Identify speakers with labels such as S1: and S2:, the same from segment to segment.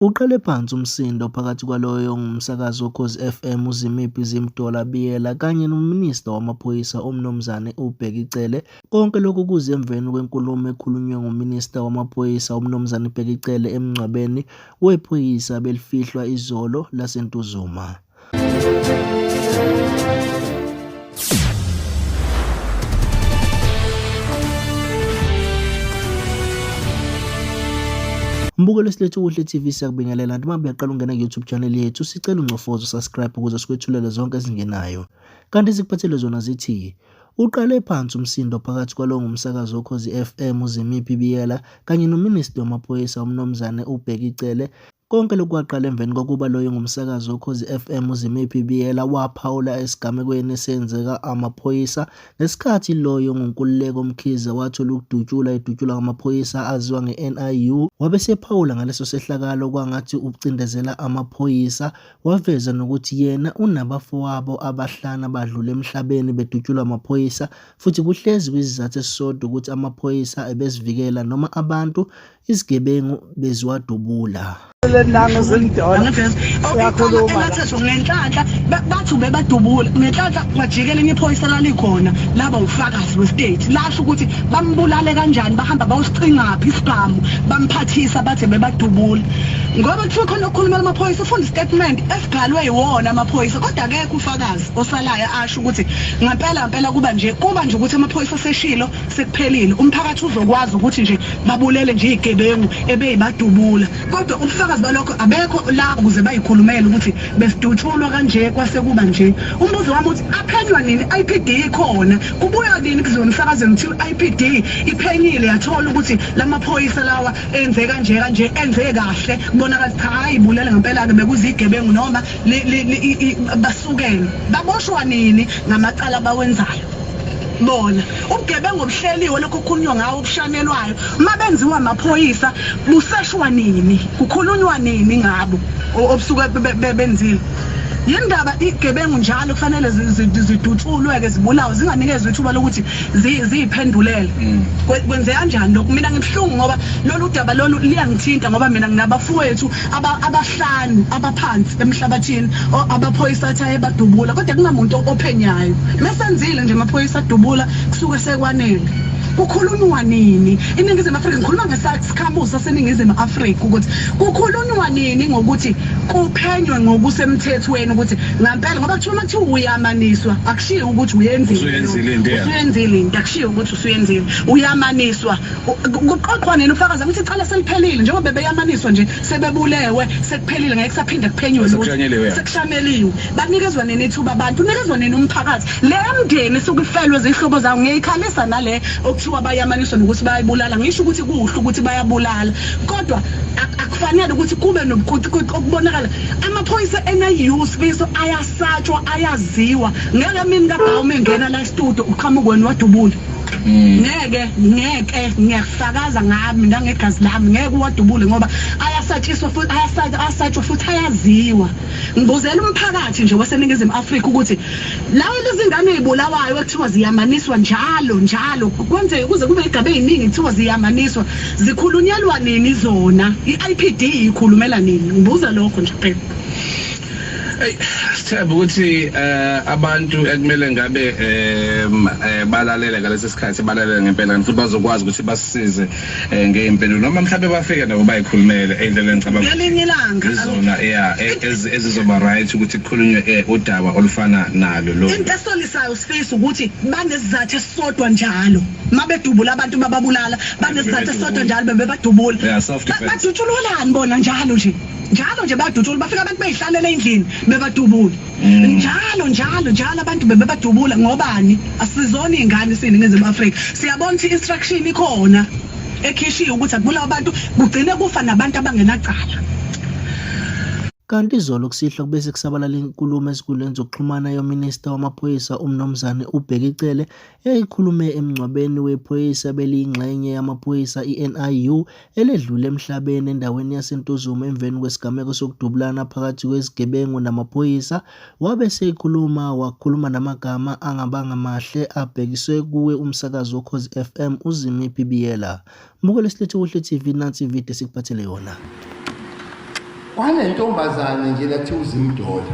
S1: Uqale phansi umsindo phakathi kwaloyo ongumsakazi woKhozi FM uZimiphi Zimdola Biyela kanye noMinista wamaPhoyisa uMnumzane uBheki Cele. Konke lokhu kuze emveni kwenkulumo ekhulunywe nguMinista wamaPhoyisa uMnumzane Bheki Cele emngcwabeni wephoyisa abelifihlwa izolo laseNtuzuma. Mbuko lesilethu Kuhle TV siyakubingelela noma buyaqala ungena ku-YouTube channel yethu sicela ungcofozo subscribe ukuze sikwethulele zonke ezingenayo. Kanti sikuphathele zona zithi uqale phansi umsindo phakathi kwalowo ngumsakazi wokhozi FM uZimiphi Biyela kanye nominista wamaphoyisa uMnumzane uBheki Cele Konke lokhu kwaqala emveni kokuba loyo ngumsakazi wokhozi FM uZimiphi Biyela waphawula esigamekweni esenzeka amaphoyisa ngesikhathi loyo ngunkululeko Mkhize wathola ukudutshula edutshulwa ngamaphoyisa aziwa nge-NIU wabe sephawula ngaleso sehlakalo kwangathi ucindezela amaphoyisa waveza nokuthi yena unabafowabo abahlanu abadlule emhlabeni bedutshulwa amaphoyisa futhi kuhlezi kwizizathu esisodwa ukuthi amaphoyisa ebesivikela noma abantu izigebengu beziwadubula lenanga
S2: zilidona uyakhuluma bathethu ngenhlanhla bathi ubebadubula ngenhlanhla kwajikela enye iphoyisa lalikhona laba ufakazi westate lasho ukuthi bambulale kanjani bahamba bawusiqingaphi isibhamu bamphathisa bathe bebadubula ngoba kuthiwa khona okukhulumela amaphoyisa ufunda istatement esibhalwe yiwona amaphoyisa kodwa akekho ufakazi osalayo asho ukuthi ngempela ngempela kuba nje kuba nje ukuthi amaphoyisa aseshilo sekuphelile umphakathi uzokwazi ukuthi nje babulele nje igebengu ebeyibadubula kodwa ubufakazi balokho abekho la ukuze bayikhulumele ukuthi besidutshulwa kanje kwasekuba nje umbuzo wami uthi aphenywa nini IPD ikhona kubuya nini kuzona emsakazweni ukuthi IPD iphenyile yathola ukuthi lamaphoyisa lawa enze kanje kanje enze kahle kubonakala cha hayi bulele ngempela ke bekuzigebengu noma basukene baboshwa nini ngamacala bawenzayo bona ubugebengu obuhleliwe lokho kukhulunywa ngawo obushanelwayo uma benziwa amaphoyisa buseshwa nini kukhulunywa nini ngabo obusuke benzile yini ndaba igebengu njalo kufanele zidutshulwe-ke zibulawe zinganikezwa ithuba lokuthi ziyiphendulele mm. kwenzeka njani lokhu mina ngibuhlungu ngoba lolu daba lolu liyangithinta ngoba mina nginabafowethu aba abahlanu abaphansi emhlabathini o- abaphoyisa athi ayebadubula kodwa kungamuntu ophenyayo mesenzile nje amaphoyisa adubula kusuke sekwanele kukhulunywa nini iningizimu afrika ngikhuluma ngesakhamuzi saseningizimu afrika ukuthi kukhulunywa nini ngokuthi kuphenywe ngokusemthethweni ukuthi ngampela ngoba kuthiwa uma kuthiwa uyamaniswa akushiyo ukuthi uyenzile Usuyenzile into yakho. usuyenzile into akushiyo ukuthi usuyenzile uyamaniswa kuqoqwa nini ufakaza ukuthi icala seliphelile njengoba bebeyamaniswa nje sebebulewe sekuphelile ngeke kusaphinde kuphenywe lutho sekushanyeliwe banikezwa nini ithuba abantu unikezwa nini umphakathi le mndeni suke ifelwe zihlobo zawo ngiyikhalisa nale okuthiwa bayamaniswa nokuthi bayibulala ngisho ukuthi kuhle ukuthi bayabulala kodwa akufanele ukuthi kube nobukuquququ okubonakala amaphoyisa eNIU sibizo ayasatshwa ayaziwa ngeke mina kabhawu mengena la studio uqhamuke wena wadubula Mm. ngeke ngeke ngiyakufakaza ngami nangegazi lami ngeke uwadubule ngoba ayasatshiswa futhi ayasatshwa futhi ayaziwa ngibuzela umphakathi nje waseningizimu afrika ukuthi lawo lezingane ey'bulawayo ekuthiwa ziyamaniswa njalo njalo kwenzeke kuze kube igaba ey'ningi kuthiwa ziyamaniswa zikhulunyelwa nini zona i-i p d ikhulumela nini ngibuza lokho nje phela Hey,
S3: sithemba ukuthi eh abantu ekumele ngabe eh, eh balalele ngalesi sikhathi balalele ngempela kanti futhi bazokwazi ukuthi basisize eh, ngeimpendulo noma mhlawumbe bafike nabo bayikhulumele endlela engicabanga ngalinye ilanga izona
S2: yeah
S3: e- ezizoba right ukuthi kukhulunywe eh, udaba olufana nalo lo into esolisayo sifisa
S2: ukuthi banesizathu esisodwa njalo mabedubula abantu bababulala banesizathu esisodwa njalo bebebadubula badutshulolani bona njalo nje njalo nje badutshula bafika abantu beyihlalela endlini bebadubula mm. njalo njalo njalo abantu bebebadubula ngobani asizona izingane sini ngezimu Africa siyabona ukuthi instruction ikhona ekhishiwe ukuthi akubulawa abantu kugcine kufa nabantu abangenacala
S1: Kanti izolo kusihlwa kubese kusabalala inkulumo ezinkundleni zokuxhumana yominista wamaphoyisa uMnumzane uBheki Cele eyikhulume emngcwabeni wephoyisa beliyingxenye yamaphoyisa i-NIU eledlule emhlabeni endaweni yaseNtuzuma emveni kwesigameko sokudubulana phakathi kwezigebengu namaphoyisa, wabe seyikhuluma wakhuluma namagama angabanga mahle abhekiswe kuwe umsakazi woKhozi FM uZimi Bibiyela. Mbukele silethe kuhle TV nansi ivideo esikuphathele yona. Kwanentombazane
S4: nje lathi uZimdola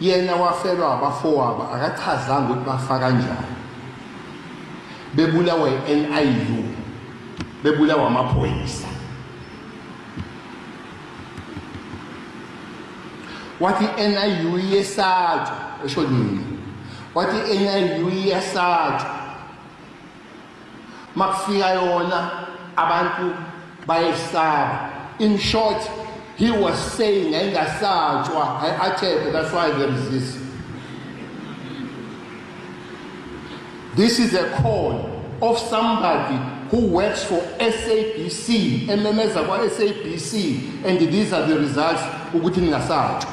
S4: Yena wafelwa abafowabo akachazanga ukuthi bafa kanjani. Bebulawa iNIU. Bebulawa amaphoyisa. Wathi iNIU yesathu esho nini? Wathi iNIU yesathu makufika yona abantu bayesaba in short he was saying ayingasatshwa ayi-athebe that's why there is this this is a call of somebody who works for sabc ememeza kwa-sabc and these are the results ukuthi ningasatshwa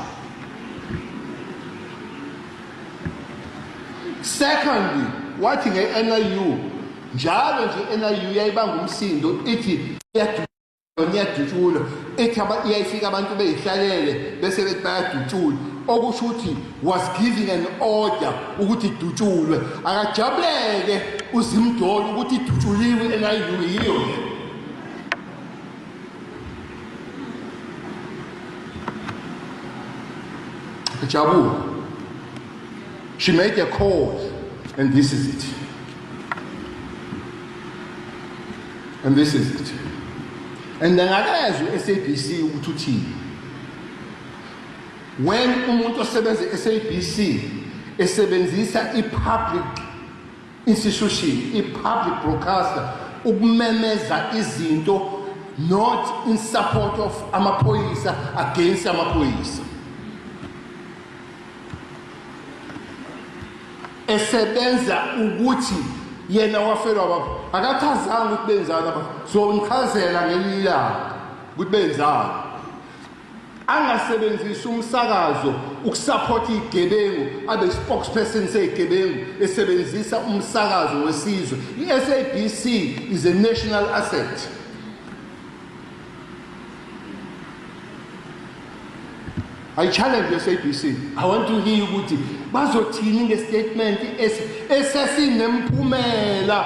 S4: Second, wathi nge-NIU njalo nje i-NIU yayibanga umsindo ithi iyadutshulwa ithi iyayifika abantu beyihlalele bese bethi bayadutshulwa okusho ukuthi was giving an order ukuthi idutshulwe akajabuleke uzimdoli ukuthi idutshuliwe i-NIU yiyo le Jabu, she made a call, and this is it. And this is it. And then I asked SABC ukuthi uthini. When umuntu osebenza SABC esebenzisa i-public institution i-public broadcaster ukumemeza izinto not in support of amaphoyisa against amaphoyisa esebenza ukuthi yena wafelwa baba akachazanga ukuthi benzani aba so ngichazela ngelilanga ukuthi benzani angasebenzisi umsakazo ukusaphotha izigebengu abe spokesperson sezigebengu esebenzisa umsakazo wesizwe i-SABC is a national asset I challenge the SABC. I want to hear ukuthi bazothini ngestatement esesinemphumela